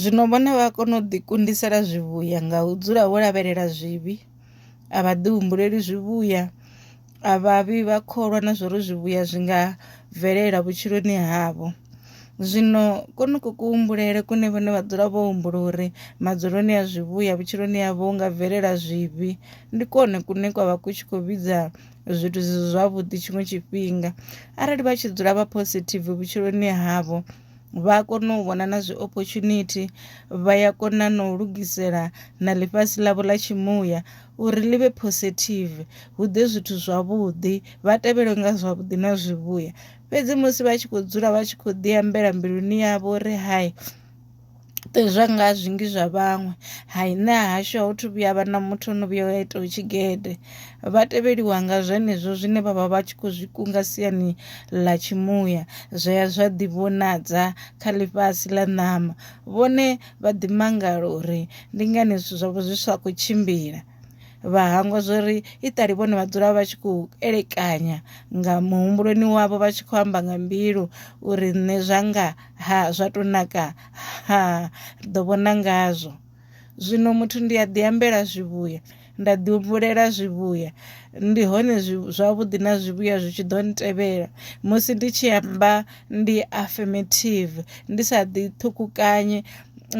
Zwino vhone vha a kona u ḓikundisela zwivhuya nga u dzula vho lavhelela zwivhi, a vha ḓihumbuleli zwivhuya, a vha vhi vha kholwa na zwa uri zwivhuya zwi nga bvelela vhutshiloni havho. Zwino kwonoku kuhumbulele kune vhone vha dzula vho humbula uri madzuloni a zwivhuya vhutshiloni havho hu nga bvelela zwivhi, ndi kwone kune kwa vha ku tshi khou vhidza zwithu zwi si zwavhuḓi tshiṅwe tshifhinga. Arali vha tshi dzula vha positive vhutshiloni havho, vha a kona u vhona na zwi opportunity vha ya kona na u lugisela na ḽifhasi ḽavho ḽa tshimuya uri ḽi vhe positive hu ḓe zwithu zwavhuḓi vha tevhelwe nga zwavhuḓi na zwivhuya fhedzi musi vha tshi khou dzula vha tshi khou ḓi ambela mbiluni yavho uri hai ṱuwiswa nga zwinzhi zwa vhaṅwe hai nṋe hahashu a hu thu vhuya ha vha na muthu ane a vhuya a itaho tshigede vha tevheliwa nga zwenezwo zwine vhavha vhatshi kho zwi kunga siani ḽa tshi muya zwa ya zwa ḓi vhonadza kha ḽifhasi ḽa ṋama vhone vha ḓi mangala uri ndi ngani zwithu zwavho zwi sa kho tshimbila vha hangwa zwori i ṱali vhone vha dzula vha tshi khou elekanya nga muhumbuloni wavho vha tshi kho amba nga mbilu uri nṋe zwanga. ha zwa to naka ha ri ḓo vhona ngazwo zwino muthu ndi a ḓi ambela zwivhuya nda ḓi humbulela zwivhuya ndi hone zwavhuḓi na zwivhuya zwi tshi ḓo ntevhela musi ndi tshi amba ndi affirmative ndi sa ḓi ṱhukhukanye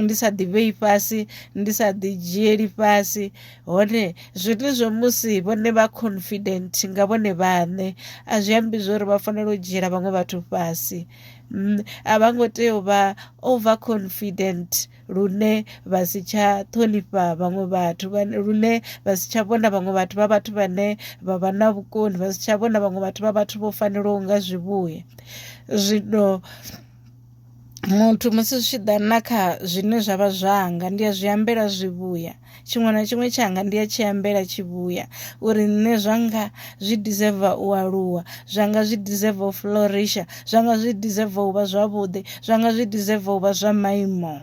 ndi sa ḓi vhei fhasi ndi sa ḓi dzhieli fhasi hone zwenezwo musi vhone vha confident nga vhone vhaṋe a zwi ambi zwori vha fanela u dzhiela vhaṅwe vhathu fhasi mm, a vha ngo tea u vha over confident lune vha si tsha ṱhonifha vhaṅwe vhathu lune vha si tsha vhona vhaṅwe vhathu vha vhathu vhane vha vha na vhukoni vha si tsha vhona vhaṅwe vhathu vha vhathu vho fanelaho nga zwivhuya zwino muthu musi zwi tshi ḓa na kha zwine zwa vha zwanga ndi a zwi ambela zwivhuya tshiṅwe na tshiṅwe tshanga ndi a tshi ambela tshi vhuya uri nṋe zwanga zwi deserve u aluwa zwanga zwi deserve u flourisha zwanga zwi deserve u vha zwavhuḓi zwanga zwi deserve u vha zwa maimo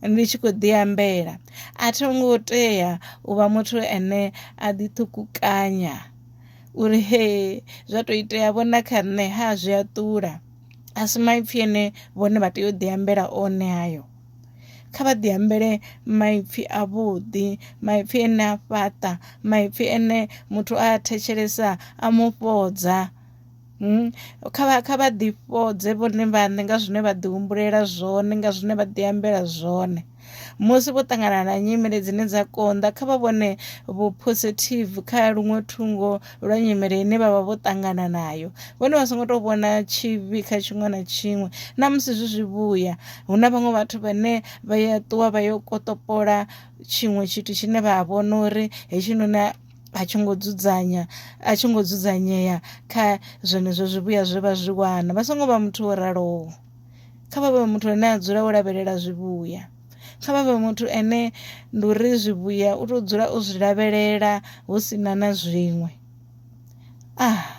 ndi tshi khou ḓi ambela a tho ngo tea u vha muthu ane a ḓi ṱhukukanya uri he zwa tou itea vho na kha nṋe ha zwi a ṱula a si maipfhi ane vhone vha tea u ḓi ambela one hayo kha vha ḓi ambele maipfi a vhuḓi maipfi ene a fhaṱa maipfi ene muthu a thetshelesa a mu fhodza hmm? kha vha kha vha ḓi fhodze vhone vhaṋe nga zwine vha ḓi humbulela zwone nga zwine vha ḓi ambela zwone musi vho ṱangana na nyimele dzine dza konḓa kha vha vhone vhu positive kha luṅwe thungo lwa nyimele ine vha vha vho ṱangana nayo vhone vha songo to vhona tshivhi kha tshiṅwe na tshiṅwe na musi zwi zwi vhuya hu na vhaṅwe vhathu vhane vha ya ṱuwa vha yo kotopola tshiṅwe tshithu tshine vha vhona uri hetshinoni a tshi ngo dzudzanya a tshi ngo dzudzanyea kha zwenezwo zwivhuya zwe vha zwi wana vha songo vha muthu wo raloho kha vha vhe muthu ane a dzula wo lavhelela zwivhuya. kha vha vhe muthu ane ndi uri zwivhuya u to dzula o zwi lavhelela hu sina na zwiṅwe ah.